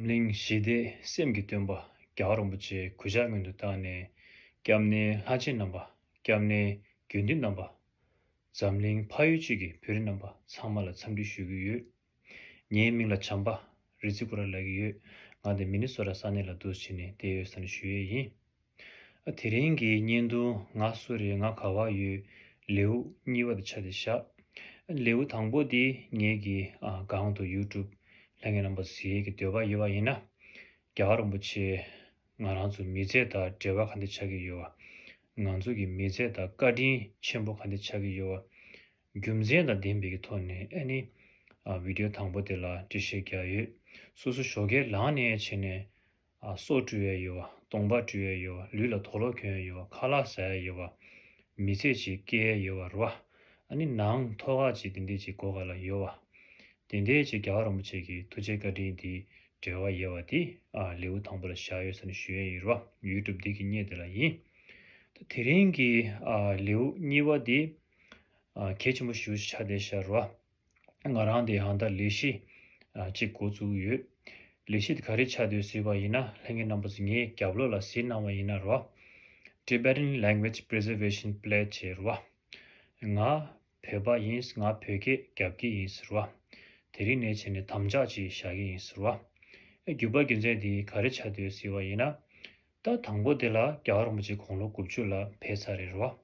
གླིང་བཞི་སྡེ་སེམས་ཀྱི་སྟོན་པ་རྒྱ་གར་རིན་པོ་ཆེའི་གུས་ཕྱག་སྔོན་དུ་བཏང་ནས་སྐྱབས་གནས་ལྷ་ཆེན་རྣམ་པ་སྐྱབས་གནས་རྒྱུད་འདུས་རྣམ་པ། འཛམ་གླིང་ཕ་ཡུལ་གཅིག་གི་བོད་རིགས་རྣམ་པ་ཚང་མ་ལ་འཚམས་འདྲི་ཞུ་གི་ཡོད། ངའི་མིང་ལ་བྱམས་པ་རི་ཙི་ཀུ་ར་ལགས་ཡོད་ང་དེ་མི་ནི་སོ་ར་ས་གནས་ལ་འདུག་ཕྱིན་ནས་དེ་ཡོད་ས་ནས་ཞུ་ཡས་ཡིན། དེ་རིང་གི་བརྙན་ཐུང་ང་སུ་རེད་ང་ག་བ་ཡོད་ལེའུ་གཉིས་པ་དེ་ཆ་དེ་བཞག་ལེའུ་དང་པོ་དེ་ངེད་ཀྱི་སྒང་དུ YouTube ལྷན་ངེད་རྣམ་པ་ཟེར་གྱི་འདོད་པ་ཡོད་པ་ཡིན་ན་རྒྱ་གར་རིན་པོ་ཆེ་ང་རང་ཚོ་མི་རྫས་དང་འབྲེལ་བ་ག་འདི་ཆགས་ཀྱི་ཡོད་བ་ང་ཚོ་གི་མི་རྫས་དང་བཀའ་དྲིན་ཆེན་པོ་ག་འདི་ཆགས་ཀྱི་ཡོད་བ་རྒྱུ་མཚན་དང་བདེན་པའི་གི་ཐོག་ནས་ཨེ་ནི Video དང་པོ་དེ་ལ་འགྲེལ་བཤད་རྒྱག་ཡོད་སོ་སོ་ཞོགས་ཁས་ལངས་ནས་བྱས་ནས་སྲོག་དྲུལ་བའི་ཡོལ་བ་གདོང་འབག་དྲུལ་བའི་ཡོལ་བ་ལུས་ལ་དོགས་ལོག་གྱོན་ཡོལ་བ་ཁ་ལག་བཟའ་ཡའི་ཡོལ་བ། མི་ཚེ་གཅིག་སྐྱེལ་ཡའི་ཡོལ་བ་རུ་བ། ནི་ནང་ཐོ་ག་གཅིག་དེ་འདས་ཀྱི་གོ་ག་ལ་ཡོལ་བ། དེ་འདས་ཀྱི་རྒྱ་གར་རིན་པོ་ཆེ་གི་ཐུགས་རྗེའི་བཀའ་དྲིན་དེའི་འབྲེལ་བ་ཡལ་བ་དེ། ལེའུ་དང་པོ་ལ་བཞག་ཡོད་ས་ནི་ཞུ་ཡའི་ཡོལ་བ་ཡུལ་གྲུབ་སྡིག་གི་རྙེད་དེ་ལ་ཡིན། དེ་རིང་གི་ལེའུ་གཉིས་པ་དེ། གལ་ཆེན་པོ་ཞུ་བྱ་དེ་ཤར་རུ་བ། ང་རང་དེ་ཡང་དག་ལས་གཞི་གཅིག་འགོ་བཙུགས་ཡོད། ལས་གཞི་དེ་ག་རེ་བྱ་འདོད་ཟེར་བ་ཡིན་ན་ལྷན་རྒྱས་རྣམ་པ་ཚོས་ངའི་རྒྱབ་ལོག་ལ་གཟིགས་གནང་བ་ཡིན་ན་རེད། Tibetan Language Preservation Pledge ཞེས་རེད། ང་བོད་པ་ཡིན་ང་བོད་སྐད་རྒྱབ་ཀྱི་ཡིན་ཟེར་བ། དེ་རིང་ནས་བྱས་ནས་དམ་བཅའ་གཅིག་བཞག་གི་ཡིན་ཟེར་བ། བརྒྱུད་པ་རྒྱུ་མཚན་དེ་ག་རེ་བྱ་འདོད་ཟེར་བ་ཡིན་ན། ད་དང་པོ་དེ་ལ་རྒྱ་གར་རིན་པོ་ཆེ་གོང་ལོ་དགུ་བཅུ་ལ་ཕེབས་ཚར་རེད་རེད་བ།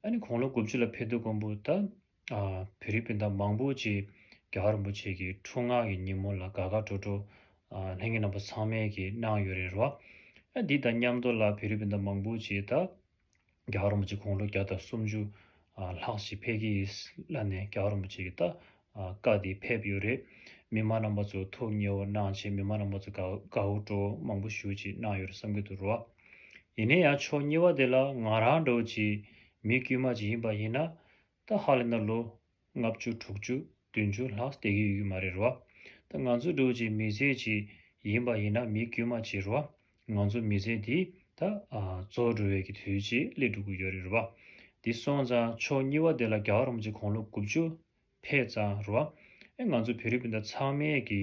ཨ་ནི་གོང་ལོ་དགུ་བཅུ་ལ་ཕེབས་དུས་ཀོང་པོ་ད། བོད་རིགས་སྤུན་ཟླ་མང་པོ་ཅིག་རྒྱ་གར་རིན་པོ་ཆེ་གི་འཕྲུལ་ངག་གི་ཉིན་མོ་ལ་དགའ་དགའ་སྤྲོ་སྤྲོ་ལྷན་རྒྱས་རྣམ་པ་ཚང་མས་ཀྱིས་གནང་ཡོད་རེད་རོ། འདི་དང་མཉམ་དུ་ལ་བོད་རིགས་སྤུན་ཟླ་མང་པོ་ཅིག་ད་རྒྱ་གར་རིན་པོ་ཆེ་དགུང་ལོ་བརྒྱ་དང་སུམ་ཅུ་ལྷག་ཅིག་ཕེབས་ཀྱི་ཡིས་ལ་ནས་རྒྱ་གར་རིན་པོ་ཆེ་གི་ད་བཀའ་འདི་ཕེབས་ཡོད་རེད། མི་མང་རྣམ་པ་ཚོ་ཐུགས་མཉེས་བོ་གནང་ཆེད་མི་མང་རྣམ་པ་ཚོ་དགའ་དགའ་བོ་སྤྲོ་བོ་མང་པོ་ཞུ་ཅིག་གནང་ཡོད་རེད་བསམ་གྱི་འདུག་རོ། ཡིན་ན་ཡང་ཆོག་གཉིས་པ་དེ་ལ་ང་རང་འདྲ་བོ་ཅིག་མི་དཀྱུས་མ་ཅིག་ཡིན་པ་ཡིན་ན་ད་ཧ་ལས་ན་ལོ་ལྔ་བཅུ་དྲུག་ཅུ་བདུན་ཅུ་ལྷག་སྡད་ཀྱི་ཡོད་མ་རེད་རོ། ད་ང་ཚོ་འགྲོ་བྱེད་མི་ཟས་ཅིག་ཡིན་པ་ཡིན་ན་མི་དཀྱུས་མ་བྱེད་རོ། ང་ཚོ་མི་ཟས་འདི་ད་ཚོ་འགྲོ་བའི་གི་དུས་ཅིག་སླེ་འགྲོ་གི་ཡོད་རེད་རོ། འདི་སོང་ཙང་ཕྱོགས་གཉིས་བ་དེ་ལ་རྒྱ་གར་རོམ་གྱི་གོང་ལོ་དགུ་བཅུ་ཕེད་ཙང་རོ། ཨེ་ང་ཚོ་བེ་རི་པིན་ད་ཚང་མས་གི་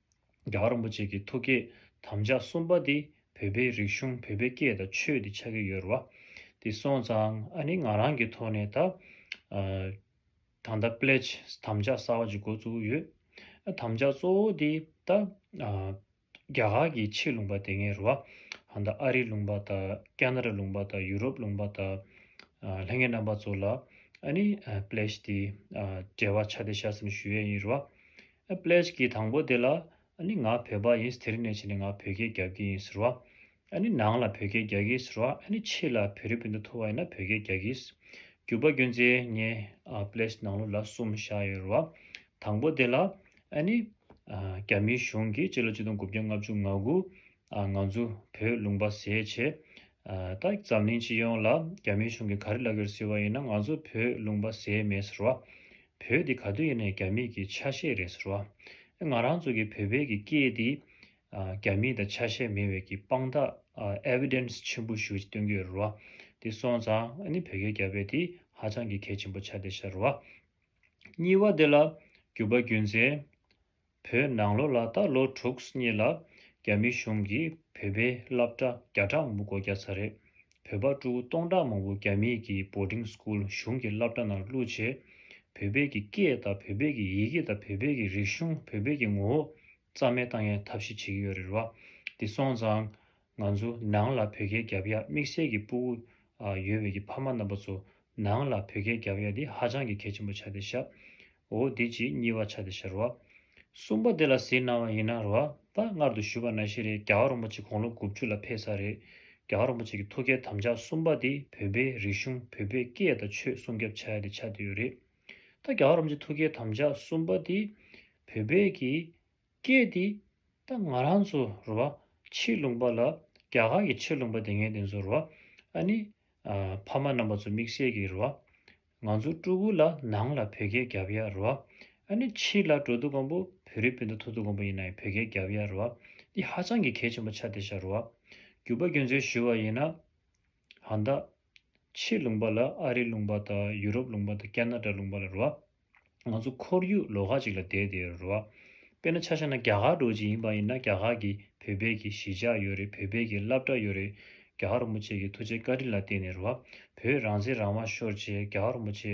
རྒྱ་གར་རིན་པོ་ཆེ་གི་ཐུགས་བསྐྱེད་དམ་བཅའ་གསུམ་པ་དེ་བོད་པའི་རིག་གཞུང་བོད་པའི་སྐད་དང་ཆོས་དེ་ཆགས་ཀྱི་ཡོད་རེད་བ། དེ་སོང་ཙང་ཨ་ནི་ང་རང་གི་ཐོག་ནས་ད། ད་ལྟ Pledge དམ་བཅའ་གསར་བ་ཅིག་འགོ་བཙུགས་ཡོད། དམ་བཅའ་གཙོ་བོ་དེ་ད། རྒྱ་གར་གྱི་ཕྱི་ལུང་པ་དེ་ངས་རེད་བ། ད་ཨ་རིའི་ལུང་པ་དང་ཀན་རཱ་ལུང་པ་དང་ཡུ་རོབ་ལུང་པ་དང། ལྷན་རྒྱས་རྣམ་པ་ཚོ་ལ་ཨ་ནི Pledge དེ་འབྲེལ་བ་ཆ་དེ་བྱ་ཟིན་ཞུ་ཡས་ཡིན་རེད་བ། ཨ་ཕླེས་ཀྱིས་དང་པོ་དེ་ལ། ཨ་ནི་ང་བོད་པ་ཡིན་དེར་ནས་བྱས་ནས་ང་བོད་སྐད་རྒྱབ་ཀྱི་ཡིན་ཟེར་བ། ཨ་ནི་ནང་ལ་བོད་སྐད་རྒྱག་གི་ཟེར་བ་ཨ་ནི་ཕྱི་ལ་བོད་རི་བོད་དུ་འཐོར་བ་ཡིན་ན་བོད་སྐད་རྒྱག་གི། རྒྱུག་པ་རྒྱུན་ཚེ་ངས་ཨ་ཕླེས་ནང་ལོ་ལ་གསུམ་བཞག་ཡོད་རེད་བ། དང་པོ་དེ་ལ། ཨ་ནི། རྒྱ་མིའི་གཞུང་གིས་སྤྱི་ལོ་གཅིག་སྟོང་དགུ་བརྒྱ་ལྔ་བཅུ་ང་དགུ། ང་ཚོ་བོད་ལུང་པ་ཟས་བྱེད། ད་འཛམ་གླིང་སྤྱི་ཡོངས་ལ་རྒྱ་མིའི་གཞུང་གིས་ག་རེ་བླ་གོས་ཟེར་བ་ཡིན་ན་ང་ཚོ་བོད་ལུང་པ་ཟས་མེད་ཟེར་བ། བོད་འདི་ག་དུས་ཡིན་ནས་རྒྱ་མིས་ཀྱི་ཆ་ཤས་རེད་ཟེར་བ། ང་རང་ཚོ་གི་བོད་པའི་གི་སྐད་འདི་རྒྱ་མིའི་དང་ཆ་ཤས་མེད་བས་ཀྱི་དཔང་རྟགས Evidence ཆེན་པོ་ཞུ་སྟོན་གི་ཡོད་རེད་བ། འདི་སོང་ཙང་ནི་བོད་སྐད་རྒྱ་བས་དེ་ཧ་ཅང་གི་གལ་ཆེན་པོ་ཆགས་བསྡད་ཤག་རེད་བ། གཉིས་བ་འདི་ལ་རྒྱུ་བ་རྒྱུན་འཛིན། བོད་ནང་ལོ་ལ་ད་ལོ་དྲུག་གཉིས་ལ་རྒྱ་མི་གཞུང་གིས་བོད་པའི་སླབ་གྲྭ་བརྒྱ་ཕྲག་མང་པོ་སྒོ་རྒྱག་ཚར་རེད་བོད་པ་ཀྲུའུ་སྟོང་ཕྲག་མང་པོ་རྒྱ་མི་གི Boarding School གཞུང་གི་སླབ་གྲྭ་ནང་བླུག་ཆེད་བོད་པའི་གི་སྐད་དང་བོད་པའི་གི་ཡི་གེ་དང་བོད་པའི་གི་རིག་གཞུང་བོད་པའི་གི་ངོ་བོ་རྩ་མེད་བཏང་ཡའི་ཐབས་ཤེས་བྱེད་ཀྱི་ཡོད་རེད་བ་འདི་སོང་ཙང་ང་ཚོ་ནང་ལ་བོད་སྐད་རྒྱབ་ཡག་དམིགས་བསལ་གྱི་སྤུ་བོ་ཡོད་བའི་གྱི་ཕ་མ་རྣམ་པ་ཚོ་ནང་ལ་བོད་སྐད་རྒྱབ་ཡག་འདི་ཧ་ཅང་གྱི་གལ་ཆེན་པོ་ཆ་དེ་ཤབ་འོ་དེ་གཅིག་གཉིས་བ་ཆ་དེ་ཤར་བ་གསུམ་པ་དེ་ལ་ཟིན་གནང་བ་ཡིན་ན་རོ་ད་སྔར་དུ་ཞུས་པ་ན་ཤེས་རེད་རྒྱ་བ་རོང་པ་ཆེ་དགུང་ལོ་དགུ་བཅུ་ལ་ཕེབས་ས་རེད་རྒྱ་བ་རོང་པ་ཆེ་གྱི་ཐུགས་བསྐྱེད་དམ་བཅའ་གསུམ་པ་དེ་བོད་པའི་རིག་གཞུང་བོད་པའི་སྐད་དང་ཆོས་སྲུང་རྒྱབ་ཆ་ཡག་དེ་ཆ་དེ་ཡོད་རེད་ད་རྒྱ་བ་རོང་པ་ཆེ་ཐུགས་བསྐྱེད་དམ་བཅའ་གསུམ་པ་དེ་བོད་པའི་གྱི། སྐད་དེ། ད་ང་རང་ཚོ་རུ་བ་ཕྱི་ལུང་པ་ལ་རྒྱ་གར་གྱི་ཕྱི་ལུང་པ་དེ་ངས་དེ་ཚོ་རུ་བ་ཨ་ནི། ཕ་མ་རྣམ་པ་ཚོ་དམིགས་བསལ་གྱི་རུ་བ། ང་ཚོ་སྤྲུལ་སྐུ་ལ་ནང་ལ་བོད་སྐད་རྒྱབ་ཡ་རུ་བ་ཨ་ནི་ཕྱི་ལ་འགྲོ་འདུག་གོང་པོ་བོད་རིགས་སྤུན་ཟླ་ཐུག་འདུག་གོང་པོ་ཡིན་ནའི་བོད་སྐད་རྒྱབ་ཡ་རུ་བ་འདི་ཧ་ཅང་གི་གལ་ཆེན་པོ་ཆ་དེ་ཤ་རུ་བ། རྒྱུ་བ་རྒྱུ་མཚན་ཞུ་བ་ཡིན་ན། ཧང་ད། ཕྱིའི་ལུང་པ་ལ་ཨ་རིའི་ལུང་པ་དང་ཡུ་རོབ་ལུང་པ་དང་ཀན་ན་ཏྲ་ལུང་པ་ལ་རུ་བ། ང་ཚོ་ཁོར་ཡུག་ལོག་ཁ་ཅིག་ལ་བསྡད་དེ་རུ་བ། དཔེར་ན་ཆ་ཤ་ན་རྒྱ་གར་འགྲོ་ཅིག་ཡིན་པ་ཡིན་ན་རྒྱ་གར་གྱི་བོད་པས་གྱི་གཞིས་ཆགས་ཡོད་རེད་བོད་པས་གྱི་བླ་བྲ་ཡོད་རེད། རྒྱ་གར་རུ་མོ་ཆེ་གྱི་ཐུགས་རྗེ་བཀའ་དྲིན་ལ་བརྟེན་ནས་རུ་བ། བོད་རང་བཙན་རང་དབང་ཤོར་རྗེས་རྒྱ་གར་རུ་མོ་ཆེ་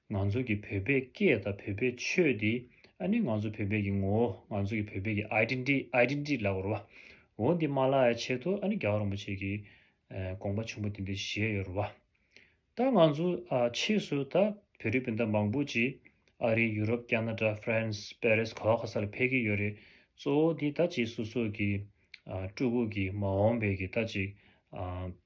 ང་ཚོ་གི་བོད་པའི་སྐད་དང་བོད་པའི་ཆོས་དེ་ཨ་ནི་ང་ཚོ་བོད་པའི་གི་ངོ་བོ་ང་ཚོ་གི་བོད་པའི་གི Identity Identity ལ་བོར་བ་འོ་འདི་མ་ལ་ཡ་ཆེད་དུ་ཨ་ནི་རྒྱ་གར་རིན་པོ་ཆེ་གི་དགོངས་པ་ཆེན་པོ་དེ་འདི་བཞེས་ཡོད་རུ་བ། ད་ང་ཚོ་ཨ་ཕྱིས་སུ་ད་བོད་རིགས་སྤུན་ཟླ་མང་པོ་ཅིག་ཨ་རི་ཡུ་རོབ་ཀྱ་ན་ཏྲ France Paris ག་བ་ག་ས་ལ་ཕེབས་ཀྱི་ཡོད་རེད་གཙོ་བོ་དེ་ད་ཅིག་སོ་སོ་གི་ཨ་སྤྲུལ་སྐུ་གི་མ་འོངས་པའི་གི་ད་ཅིག་ཨ།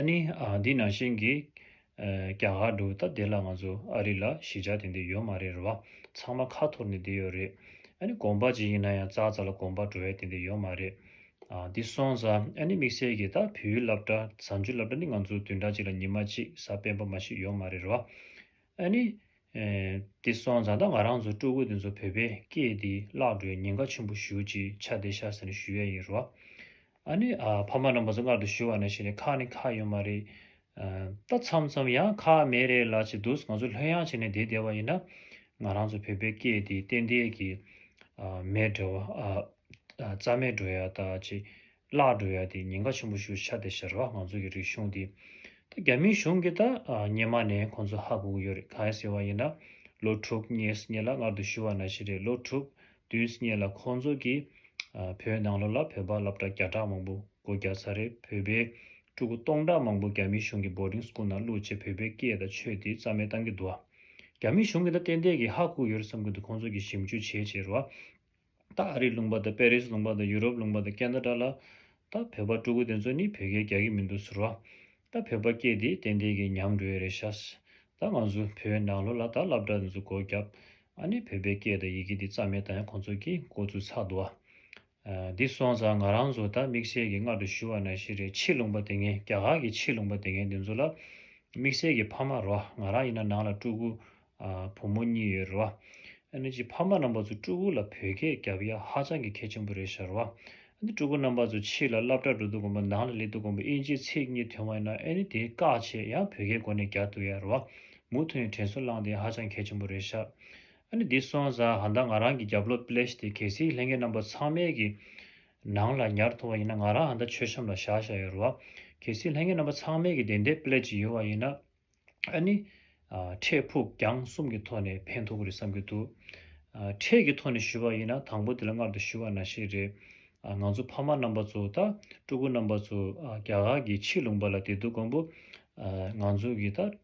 ཨ་ནི། འདི་ནང་བཞིན་གྱི། རྒྱ་གར་འགྲོ་བའི་སྟབས་བདེ་ལ་ང་ཚོ་ཨ་རི་ལ་གཞིས་ཆགས་དེ་འདི་ཡོད་མ་རེད་རེད་བ། ཚང་མ་ཁ་འཐོར་ནས་བསྡད་ཡོད་རེད། ཨ་ནི་དགོངས་པ་ཅི་ཡིན་ན་ཡང་ཙག་ཙག་ལ་དགོངས་པ་འགྲོ་ཡ་དེ་འདི་ཡོད་མ་རེད། འདི་སོང་ཙ། ཨ་ནི་དམིགས་བསལ་གྱི་ད་བེའུའི་སླབ་གྲྭ་ཟ་འཇུ་སླབ་གྲྭ་ནི་ང་ཚོ་བདུན་ཕྲག་གཅིག་ལ་ཉིན་མ་གཅིག་ཟ་སྤེན་པ་མ་ཞིག་ཡོད་མ་རེད་རེད་བ། ཨ་ནི། དེ་སོང་ཙང་ད་ང་རང་ཚོ་སྤྲུལ་སྐུ་དེ་ཚོ་བོད་པས་སྐད་འདི་བརླག་འགྲོའི་ཉེན་ཁ་ཆེན་པོ་ཞུ་ཅིག་ཆ་བདེ་ཤག་ཟེར་ནས་ཞུ་ཡས་ཡིན་རོ། ཨ་ནི། ཕ་མ་རྣམ་པ་ཚོ་མངལ་དུ་ཞུ་བ་ན་ཤི་ནས་ཁག་ནི་ཁག་ཡོད་མ་རེད། ད་མཚམས་མཚམས་ཡང་ཁག་མེད་རེད་ལ་བྱེད་འདུག་ང་ཚོ་ལྷོད་ཡང་བྱས་ནས་བསྡད་བསྡད་བ་ཡིན་ན། ང་རང་ཚོ་བོད་པའི་སྐད་འདི་ཏན་ཏན་གྱིས་མེད་འགྲོ་ཡ་རྩ་མེད་འགྲོ་ཡ་ད་ཅིག་བརླག་འགྲོ་ཡ་དེ་ཉེན་ཁ་ཆེན་པོ་ཞུ་ཤ་དེ་ཤར་བ་ང་ཚོ་གི་རིག་གཞུང་དེ་ད་རྒྱ་མིའི་གཞུང་གི་ད་ཉེ་མ་ནས་ཁོང་ཚོ་ཧ་གོ་གི་ཡོད་རེད་གང་ཟེར་བ་ཡིན་ན་ལོ་དྲུག་གཉིས་སྙེ་ལ་ངར་དུ་ཞུ་བ་ན་ཤི་རེད་ལོ་དྲུག་བདུན་སྙེ་ལ་ཁོང་ཚོ་གི་བོད་ནང་ལོ་ལ་བོད་པ་ལབ་གྲ་བརྒྱ་ཕྲག་མང་པོ་གོ་བརྒྱ་ཚར་རེད་བོད་པའི་ཕྲུ་གུ་སྟོང་ཕྲག་མང་པོ་རྒྱ་མིའི་གཞུང་གི boarding school ནང་བླུག་རྗེས་བོད་པའི་སྐད་དང་ཆོས་དེ་རྩ་མེད་བཏང་གི་འདུག་རྒྱ་མིའི་གཞུང་གི་ད་ཏན་ཏན་གི་ཧ་གོ་གི་ཡོད་རེད་བསམ་གི་འདུག་ཁོང་ཚོ་གི་ཞིབ་འཇུག་བྱས་བྱས་རུ་བ། ད་ཨ་རིའི་ལུང་པ་དང་པེ་རིས་ལུང་པ་དང་ཡུ་རོབ་ལུང་པ་དང་ཀན་ད་ཀྲ་ལ། ད་བོད་པ་སྤྲུལ་སྐུ་དེ་ཚོ་ནི་བོད་སྐད་རྒྱག་གི་མི་འདུག་ཟེར་བ། ད་བོད་པ་སྐད་དེ་ཏན་ཏན་གྱི་ཉམས་འགྲོ་ཡི་རེད་ཤག། ད་ང་ཚོ་བོད་ནང་ལོ་ལ་ད་སླབ་གྲགས་དེ་ཚོ་སྒོ་རྒྱབ། ཨ་ནི་བོད་པའི་སྐད་དང་ཡི་གེ་འདི་རྩ་མེད་བཏང་ཡ་ཁོང་ཚོ་གིས་མགོ་ཚུགས་ཚར་འདུག་ཨ། འདི་སོང་ཙང་ང་རང་ཚོ་ད་དམིགས་བསལ་གྱི་སྔར་དུ་ཞུ་བ་ན་ཤི་རེ་ཕྱིས་ལུང་པ་དེ་ངན་རྒྱ་གར་གྱི་ཕྱིས་ལུང་པ་དེ་ངན་དེ་ཚོ་ལ་དམིགས་བསལ་གྱི་ཕ་མ་རོ་ང་རང་ཡིན་ན་ནང་ལ་སྤྲུལ་སྐུ་བུ་མོ་གཉིས་ཡོད་རེད་བ། ཨ་ནི་ཀྱི་ཕ་མ་རྣམ་པ་ཚོ་སྤྲུལ་སྐུ་ལ་བོད་སྐད་རྒྱབ་ཡ་ཧ་ཅང་གི་གལ་ཆེན་པོ་རེད་ཤར་བ། ཨ་ནི་སྤྲུལ་སྐུ་རྣམ་པ་ཚོ་ཕྱི་ལ་སླབ་གྲགས་འགྲོ་འདུག་གོམ་པ་ནང་ལ་སླེབས་འདུག་གོམ་པ་དབྱིན་ཇིའི་ཚིག་གཉིས་ཐོན་བ་ཡིན་ན་ཨ་ནི་དེ་བཀག་ཆེད་ཡང་བོད་སྐད་སྒོ་ནས་རྒྱག་འདུག་ཡ་རེད་བ། མུ་མཐུན་ཡང་དྲན་སོ་བླངས་དེ་ཧ་ཅང་གལ་ཆེན་པོ་རེད་ཤར། ཨ་ནི་འདི་སོང་ས་ཧ་མདའ་ང་རང་གི་རྒྱབ་ལོག་པླེས་དེ་གལ་སྲིད་ལྷན་རྒྱས་རྣམ་པ་ཚང་མའི་གི་ནང་ལ་ཉར་ཐུབ་བ་ཡིན་ན་ང་རང་ཧ་མདའ་མཆོད་བཤམས་ལ་བཞག་ཤར་ཡོད་རེད་བ། གལ་སྲིད་ལྷན་རྒྱས་རྣམ་པ་ཚང་མའི་གི་དེ་འད་པླེས་ཀྱི་ཡོད་བ་ཡིན་ན། ཨ་ནི། འཕྲད་ཕུགས་རྒྱང་གསུམ་གྱི་ཐོག་ནས་ཕན་ཐོགས་གི་རེད་བསམ་གྱི་འདུག། འཕྲད་ཀྱི་ཐོག་ནས་ཞུ་བ་ཡིན་ན་དང་པོ་དེ་ལ་མངགས་ཏེ་ཞུ་བ་ན་ཞིག་རེད། ང་ཚོ་ཕ་མ་རྣམ་པ་ཚོ་དང་སྤྲུལ་སྐུ་རྣམ་པ་ཚོ་རྒྱ་གར་གྱི་ཕྱི་ལུང་པ་ལ་བདེ་སྡུག་མགོན་པོ། ང་ཚོ་གི་དང་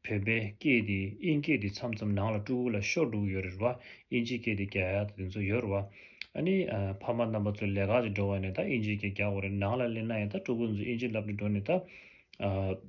བོད་པའི་སྐད་དེ་དབྱིན་སྐད་དེ་མཚམས་མཚམས་ནང་ལ་སྤྲུལ་སྐུ་ལ་ཤོར་འགྲོ་གི་ཡོད་རེད་བ་དབྱིན་ཇི་སྐད་དེ་རྒྱ་ཡག་དང་དེ་ཚོ་ཡོད་རེད་བ། ཨ་ནི། ཕ་མ་རྣམ་པ་ཚོ་ལས་ཀ་ལས་འགྲོ་བ་ནས་དང་དབྱིན་ཇི་སྐད་རྒྱག་དགོས་རེད་ནང་ལ་སླེབས་ན་ཡང་དང་སྤྲུལ་སྐུ་ཚོ་དབྱིན་ཇི་ལབ་ནས་འགྲོ་ནས་དང།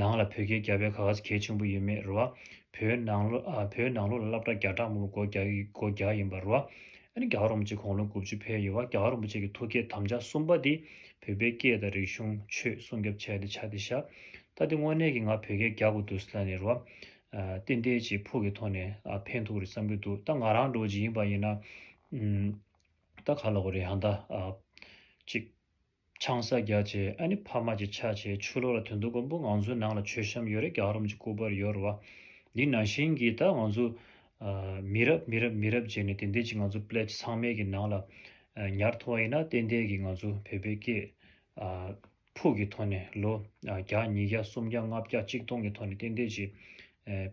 ནང་ལ་བོད་སྐད་རྒྱག་པའི་ག་གཟ་གལ་ཆེན་པོ་ཡོད་མེད་རེད་བ། བོད་ནང་ལུགས་ལ་སླབ་གྲ་རྒྱག་དྲག་མོ་བོ་སྒོ་རྒྱག་ཡིན་པ་རེད་བ། ཨ་ནི་རྒྱ་རོམ་གཅིག་གོང་ལོ་དགུ་བཅུ་འཕེལ་ཡོད་བ་རྒྱ་རོམ་པོ་ཆེ་གི་ཐུགས་བསྐྱེད་དམ་བཅའ་གསུམ་པ་དེ་བོད་པའི་སྐད་དང་རིག་གཞུང་ཆོས་སྲུང་རྒྱབ་བྱས་ཏེ་ཕྱག་དེ་བཞག་ད་དེ་དངོས་གནས་ཀྱི་ང་བོད་སྐད་རྒྱག་དགོས་འདུག་ས་ནི་རེད་བ། ཏན་ཏན་གྱིས་ཕུགས་ཀྱི་ཐོག་ནས་ཕན་ཐུག་རེད་བསམ་གྱི་འདུག་ད་ང་རང་འགྲོ་བྱེད་ཡིན་པ་ཡིན་ན། ད་ག་ལ་དགོས་རེད་ཧང་ད། ཅིག། ཆང་ས་རྒྱག་བྱས་ཨ་ནི་ཕ་མ་གྱི་ཆ་བྱས་ཆུ་ལོག་ལ་དུད་འདུག་མགོན་པོ་ང་ཚོའི་ནང་ལ་མཆོད་བཤམས་ཡོད་རེད་རྒྱག་རོམ་གྱི་སྐུ་པར་ཡོད་རེད་བ། འདི་ནང་བཞིན་གྱི་ད་ང་ཚོ། མི་རབས་མི་རབས་མི་རབས་རྗེས་ནས་དེ་འདས་ཀྱི་ང་ཚོ Pledge ཚང་མའི་གྱི་ནང་ལ། ཉར་ཐོ་བ་ཡིན་ན་གཏན་འདས་གྱི་ང་ཚོ་བོད་པའི་སྐད། ཕུགས་གྱི་ཐོག་ནས་ལོ་བརྒྱ་ཉིས་བརྒྱ་སུམ་བརྒྱ་ལྔ་བརྒྱ་གཅིག་སྟོང་གི་ཐོག་ནས་གཏན་འདས་ཀྱི།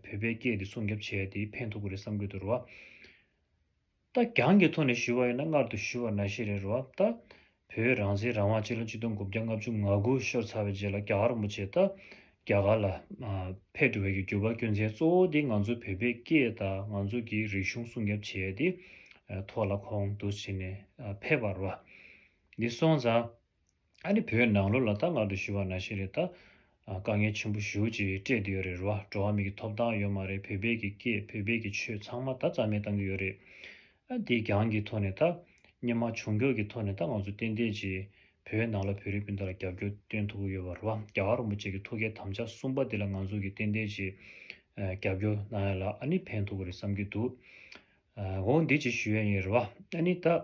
བོད་པའི་སྐད་དེ་སྲུང་སྐྱོབ་བྱས་དེ་ཕན་ཐོགས་ཀྱི་རེད་བསམ་གྱི་འདུག་རེད་བ། ལྟ་གྱང་གི་ཐོག་ནས་ཞུ་བ་ཡིན་ན་མངལ་དུ་ཞུ་བ་ན་ཤེས་རེད་རོ་ཨ་ལྟ། བོད་རང་བཙན་རང་དབང་སྤྱི་ལོ་གཅིག་སྟོང་དགུ་བརྒྱ་ལྔ་བཅུ་ང་དགུ་ཤོར་ཚར་བའི་རྗེས་ལ་རྒྱ་གར་མོ་ཆེས་ལྟ། རྒྱ་གར་ལ། ཕེབས་འགྲོ་བའི་གི་འགྱུར་བ་སྐྱོན་ཚན་གཙོ་བོ་དེ་ང་ཚོ་བོད་པའི་སྐད་དང་ང་ཚོ་གི་རིག་གཞུང་སྲུང་སྐྱོབ་བྱས་ཏེ། ཐོག་ལ་ཁོང་དུ་ཕྱིན་ནས་ཕེབས་པར་རོ་ཨ། འདི་སོང་ཙང། ཨ་ནི་བོད་ནང་ལོ་ལ་ད་ང་དུ་ཞུ་བ་ན་ཤེས་རེད་ད། དཀའ་ངལ་ཆེན་པོ་ཞུ་ཅིག་སྤྲད་དུ་ཡོད་རེད་རེད་བ་འགྲོ་བ་མི་གི་ཐོབ་ཐང་ཡོད་མ་རེད་བོད་པའི་གི་སྐད་བོད་པའི་གི་ཆོས་ཚང་མ་ད་རྩ་མེད་བཏང་གི་ཡོད་རེད། ཨ་དེ་གྱང་གི་ཐོག་ནས་ད། སྙེ་མ་བྱུང་འགྱོག་གི་ཐོག་ནས་ད་ང་ཚོ་ཏན་ཏན་ཅིག་བོད་ནང་ལ་བོད་རིགས་སྤུན་ཟླ་ལ་རྒྱབ་སྐྱོར་བཏོན་ཐུབ་གི་ཡོད་བ་རེད་བ་རྒྱ་གར་རོང་པོ་ཅེ་གི་ཐུགས་ཀའི་དམ་བཅའ་གསུམ་པ་དེ་ལ་ང་ཚོ་གི་ཏན་ཏན་ཅིག་རྒྱབ་སྐྱོར་གནང་ཡ་ལ་ཨ་ནི་ཕན་ཐོག་གི་རེད་བསམ་གི་འདུག། ཨ་འོ་འདི་ཅིག་ཞུ་ཡ་ཡིན་རེད་བ་ཨ་ནི་ད།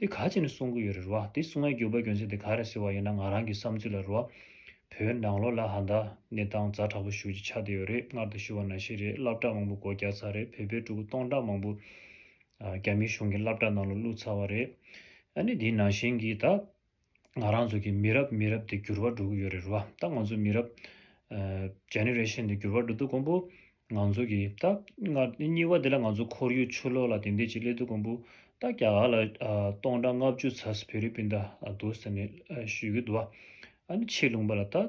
དེ་ག་བྱས་ནས་གསུང་གི་ཡོད་རེད་རེད་བ། དེ་གསུང་བའི་འགྱོད་པ་འགྱོད་འཛིན་དེ་ག་རེད་ཟེར་བ་ཡིན་ན་ང་རང་གི་བསམ་ཚུལ་ལ་རེད་བ། བོད་ནང་ལོ་ལ་ཧ་མདའ། གནས་སྟངས་རྫ་དྲག་པོ་ཞུགས་ཀྱི་ཆགས་བསྡད་ཡོད་རེད་སྔར་དང་ཞུ་བ་ན་ཞིག་རེད་བསླབ་གྲགས་མང་པོ་སྒོ་རྒྱག་ཚར་རེད་བོད་པའི་ཕྲུ་གུ་སྟོང་ཕྲག་མང་པོ། རྒྱ་མིའི་གཞུང་གི་བསླབ་གྲགས་ནང་ལ་བླུགས་ཚར་བ་རེད། ཨ་ནི་དེའི་ནང་བཞིན་གྱི་ད། ང་རང་ཚོ་གི་མི་རབས་མི་རབས་དེ་འགྱུར་བ་འགྲོ་གི་ཡོད་རེད་རེད་བ་ད་ང་ཚོ་མི་རབས། Generation། དེ་འགྱུར་བ་འགྲོ་དུས་ཀོང་པོ་ང་ཚོ་གི་ད་སྔ་སྙི་བ་དེ་ལ་ང་ཚོ་ཁོར་ཡུག་ཆུ་ལོག་ལ་དེ་འད་ཅིག་སླེབས་དུས་ཀོང་པོ་ད་རྒྱ་གར་ལ་སྟོང་ཕྲག་ལྔ་བཅུ་ཚ་སི་བྷི་རི་པིན་ད་འདུག་ཟེར་ནས་ཞུས་གི་འདུག་བ་ཨ་ནི་ཆེས་ལུང་པ་ལ་ད།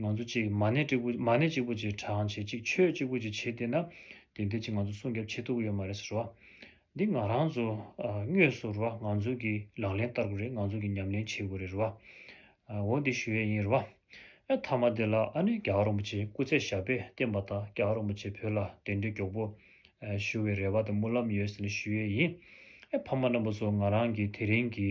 ང་ཚོ་གཅིག་མ་ནས་གཅིག་པུ་མ་ནས་གཅིག་པུ་གཅིག་དྲང་བྱེད་གཅིག་ཆོད་གཅིག་པུ་གཅིག་བྱེད་བསྡད་ན་དེ་འདྲའི་གཅིག་ང་ཚོ་སྲུང་སྐྱོབ་བྱེད་ཐུབ་ཀྱི་ཡོད་མ་རེད་ཟེར་རོ། འདི་ང་རང་ཚོ་དངོས་སུ་རོ་ང་ཚོ་གི་ལག་ལེན་བསྟར་དགོས་རེད་ང་ཚོ་གི་ཉམས་ལེན་བྱེད་དགོས་རེད་རོ། འོ་འདི་ཞུ་ཡས་ཡིན་རོ། ཨེ་ཐ་མ་དེ་ལ་ཨ་ནེ་རྒྱ་གར་རོང་པོ་ཆེའི་སྐུ་ཚེ་ཞབས་པད་བརྟན་པ་དང་རྒྱ་གར་རོང་པོ་ཆེ་བོད་ལ་དེ་འདྲའི་མགྱོགས་པོ་ཞུ་བའི་རེ་བ་དང་སྨོན་ལམ་ཡོད་ཟེར་ནས་ཞུ་ཡས་ཡིན། ཨེ་ཕ་མ་རྣམ་པ་ཚོ་ང་རང་གི་དེ་རིང་གི།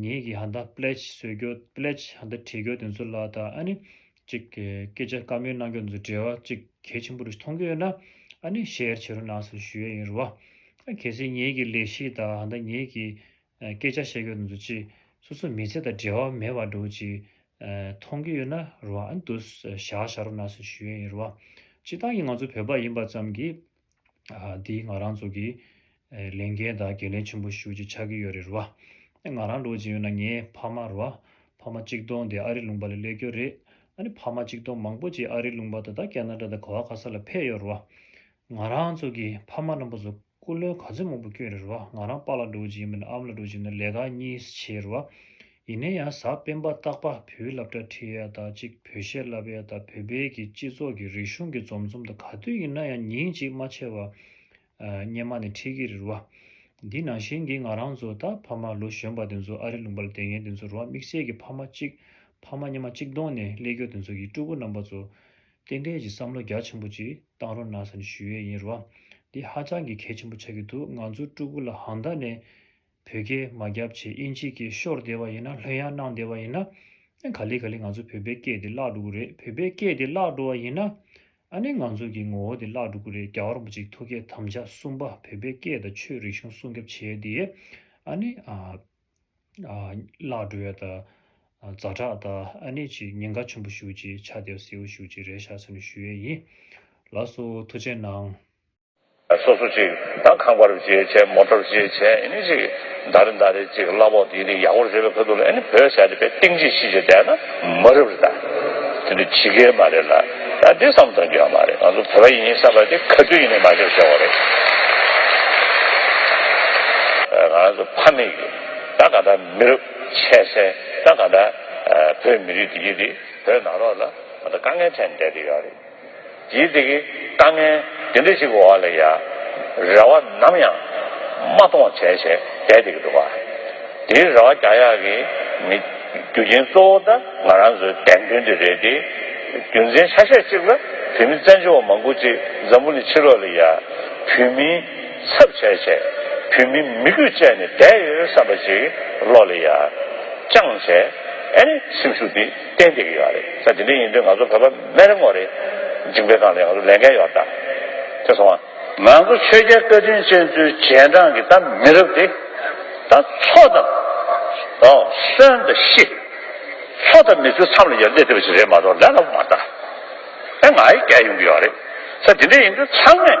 ངེད་ཀྱིས་ཧ་འདའ Pledge བཟོས་རྒྱུ Pledge ཧ་འདའ་བྲིས་རྒྱུ་དེ་ཚོ་ལ་ད་ཨ་ནི་གཅིག་གི་སྐད་ཆ་བཀའ་མོལ་གནང་རྒྱུ་དེ་ཚོ་འབྲེལ་བ་གཅིག་གལ་ཆེན་པོ་རེ་མཐོང་གི་ཡོད་ན་ཨ་ནི Share བྱེད་རོགས་གནང་ཟེར་ཞུ་ཡས་ཡིན་རུ་བ། གལ་སྲིད་ངེད་ཀྱི་ལས་གཞི་དང་ཧ་འདའ་ངེད་ཀྱི་སྐད་ཆ་བཤད་རྒྱུ་དེ་ཚོ་གཅིག་སོ་སོ་མི་ཚེ་དང་འབྲེལ་བ་མེད་པ་འདྲ་བོ་གཅིག་མཐོང་གི་ཡོད་ན་རུ་བ་ཨ་ནི་དུ་བཞག་བཞག་རོགས་གནང་ཟེར་ཞུ་ཡས་ཡིན་རུ་བ། སྤྱི་བཏང་གི་ང་ཚོ་བོད་པ་ཡིན་པ་ཙམ་གྱིས་དེའི་ང་རང་ཚོ་གི་ལས་འགན་དང་འགན་ལེན་ཆེན་པོ་ཞུ་རྒྱུ་ཆགས་ཀྱི་ཡོད་རེད་རེད་བ། ད་ང་རང་འགྲོ་བཞིན་ཡོད་ན་ངའི་ཕ་མ་རེད་བ། ཕ་མ་གཅིག་སྟོང་དེ་ཨ་རི་ལུང་པ་ལ་སླེབས་ཀྱི་རེད། ཨ་ནི་ཕ་མ་གཅིག་སྟོང་མང་པོ་ཅིག་ཨ་རི་ལུང་པ་ད་ལྟ་ཀ་ན་རྡ་དང་གོ་ཨ་ཁ་ས་ལ་ཕེབས་ཡོད་རེད་བ། ང་རང་ཚོ་གི་ཕ་མ་རྣམ་པ་ཚོ་སྐུ་ལོན་ག་ཚོད་མང་པོ་བསྐྱོན་རེད་རེད་བ། ང་རང་པ་ལ་འགྲོ་བཞིན་ཡོད་མིན་ཨམ་ལ་འགྲོ་བཞིན་ཡོད་ན་ལས་ཀ་གཉིས་བྱས་རེད་བ། ཡིན་ན་ཡང་གཟའ་སྤེན་པ་རྟག་པ་བུའི་ལབ་སྒྲ་ཁྲིད་ཡ་དག་ཅིག་བོད་གཞས་བསླབ་ཡ་དག་བོད་པའི་གི་སྤྱི་ཚོགས་ཀྱི་རིག་གཞུང་གི་འཛོམས་འཛོམས་དང་ག་དུས་ཡིན་ན་ཡང་ཉིན་གཅིག་མ་ཆེ་བ་སྙེ་མ་ནས་ཁྲིད་གི་རིར་བ། འདི་ནང་བཞིན་གི་ང་རང་ཚོ་ད་ཕ་མ་ལོ་གཞོན་པ་དེ་ཚོ་ཨ་རི་ལུང་པ་ལ་དེ་ངས་དེ་ཚོ་རུ་བ་དམིགས་བསལ་གི་ཕ་མ་གཅིག་ཕ་མ་སྙེ་མ་གཅིག་གདོང་ནས་སླེ་སྐྱོ་དེ་ཚོ་ཡི་སྤྲུལ་སྐུ་རྣམ་པ་ཚོ་རྟེན་འབྲེལ་གྱི་བསམ་བློ་རྒྱ་ཆེན་པོ་ཅིག་བཏང་རོགས་གནང་ས་ནས་ཞུ་ཡས་ཡིན་རུ་བ་འདི་ཧ་ཅང་གི་གལ་ཆེན་པོ་ཆགས་གི་འདུག་ང་ཚོ་སྤྲུལ་སྐུ་ལ་ཧང་ད་ནས་བོད་སྐད་མ་རྒྱབ་ཆེད་དབྱིན་ཇི་སྐད་ཤོར་བསྡད་པ་ཡིན་ན་ལྷོད་ཡང་གནང་བསྡད་པ་ཡིན་ན། ག་ལེ་ག་ལེ་ང་ཚོ་བོད་པའི་སྐད་དེ་བརླག་འགྲོ་གི་རེད་བོད་པའི་སྐད་དེ་བརླག་འགྲོ་བ་ཡིན་ན། ཨ་ནི་ང་ཚོ་གི་ངོ་བོ་དེ་བརླག་འགྲོ་གི་རེད་རྒྱ་གར་བོ་ཅིག་ཐུ་སྐད་དམ་བཅའ་གསུམ་པ་བོད་པའི་སྐད་དང་ཆོས་རིག་གཞུང་སྲུང་རྒྱབ་བྱེད་ཡས་དེ་ཡས་ཨ་ནི། བརླག་འགྲོ་ཡས་ད། རྫ་དྲག་ད་ཨ་ནི་ཅིག་ཉེན་ཁ་ཆུན་པོ་ཞུགས་ཅིག་ཆ་དེ་བ་སེའུ་ཞུགས་ཅིག་རེད་ཤག་ཚུན་ནས་ཞུ་ཡས་ཡིན། ལགས་སོ་ཐུ་ཆེ་གནང། སོ་སོ་ཅིག་དང་ཁང་པར་བརྗེས་བྱས་མོ་ཏོར་བརྗེས་བྱས་ཨིནི་ཅིག་མདའ་རེ་མདའ་རེ་ཅིག་གླ་ཕོག་དིག་དིག་ཡག་པོར་བརྗོད་པའི་ཁོལ་དུ་ལ་ཨིནི་བོད་བྱ་རེ་པའི་ཏིང་ཅིག་ཤིག་བྱས་བསྡད་ན་མ་རབ་རེ་ད། དེ་འདྲ་ཇི་དགའི་མ་རེད་ལ་ད་འདི་བསམ་གཏོང་རྒྱུ་ཡང་མ་རེད་ང་ཚོ་བོད་པ་ཡིན་ཡིན་བསམ་པ་དེ་ག་དུས་ཡིན་ནས་མ་ཤོར་ཤོར་བ་རེད། ང་རང་ཚོ་ཕ་མེས་ཀྱི་ད་ག་འདྲ་མི་རབ་ཆད་སེ་ད་ག་འདྲ་བོད་མི་རིགས་དེ་གྱིས་དེ་བོད་ནང་རོགས་ལ་ད་དཀའ་ངལ་འཕྲད་ནས་བསྡད་དེ་ཡོད་རེད། ཡིད་བདེ་གི་དཀའ་ངལ་དེ་འདྲ་ཞིག་གི་འོག་ལ་ཡ་རེ་བ་ནམ་ཡང་མ་གཏོང་བ་བྱས་བྱས་བསྡད་བསྡད་ཀྱི་འདུག་ག་དེའི་རེ་བ་རྒྱག་ཡག་གི་མེད། རྒྱུ་རྐྱེན་གཙོ་བོ་ད་ང་རང་ཚོའི་དད་འདུན་དེ་རེད་དེ། རྒྱུ་མཚན་ཆ་ཤས་གཅིག་ལ་བོད་མི་བཙན་བྱོལ་བ་མང་པོ་ཅིག་འཛམ་བུ་ནས་ཕྱི་ལོག་ལ་ཡ་བོད་མི་ཚབ་བྱས་བྱས་བོད་མི་མི་གུས་བཅད་ནས་བསྡད་ཡོད་བསམ་པ་ཅིག་བློ་ལ་ཡ་ཅང་བྱས་ཨེ་ནི་སེམས་ཤུགས་དེ། ཏན་ཏིག་ཡོད་རེད་ས་དེ་འདྲ་ཡིན་དུས་ང་ཚོ་བོད་པ་མེད་རེད་མོ་རེད་ཇིང་པའི་ཁང་ལས་ང་ཚོ་ལས་འགན་ཡོད་རེད་དེ་སོང་ང། ང་ཚོ་ཆོས་རྒྱལ་བཀའ་དྲིན་ཅན་ཚོའི་རྗེས་འབྲང་གི་ད་མི་རབས་དེ་ད་ཚོ་ད་གསོན་ད་ཤི་ཚོ་ད་མི་ཚོའི་མཚམས་ལ་ཡར་འདེད་ཐེབས་པ་ཞིག་རེད་མ་གཏོགས་ལས་སླ་པོ་མ་རེད་ད་ང་ཡི་གེ་ཡོང་གི་ཡོད་རེད་ས་དེ་འདྲ་ཡིན་དུས་ཚང་མས།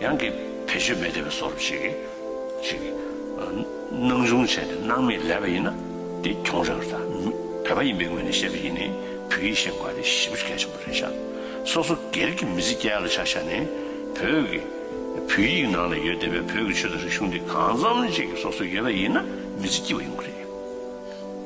ཡང་གི་བེད་སྤྱོད་མེད་བདེ་བའི་སོར་བཞི། ཞེས་སྣང་ཆུང་བྱས་ནས་སྣང་མེད་ལས་པ་ཡིན་ན་དེ་གྱོང་རེག་ར་བས་པ་ཡིན་པའི་ངོས་ནས་བཤད་པ་ཡིན་ནི་བོད་ཡིག་ཤེས་དགོས་པ་དེ་ཞིབ་གལ་ཆེན་པོ་རེད་ཤག་སོ་སོ་སྒེར་གྱི་མི་ཚེ་སྐྱལ་ལ་ཆག་ཤག་ནི་བོད་ཀྱི་བོད་ཡིག་ནང་ལ་ཡོད་བདེ་བའི་བོད་ཀྱི་ཆོས་དང་རིག་གཞུང་དེ་གང་འཚམ་ཅིག་སོ་སོ་ཡོད་པ་ཡིན་ན་མི་ཚེ་སྐྱིལ་བ་ཡོང་གི་རེད།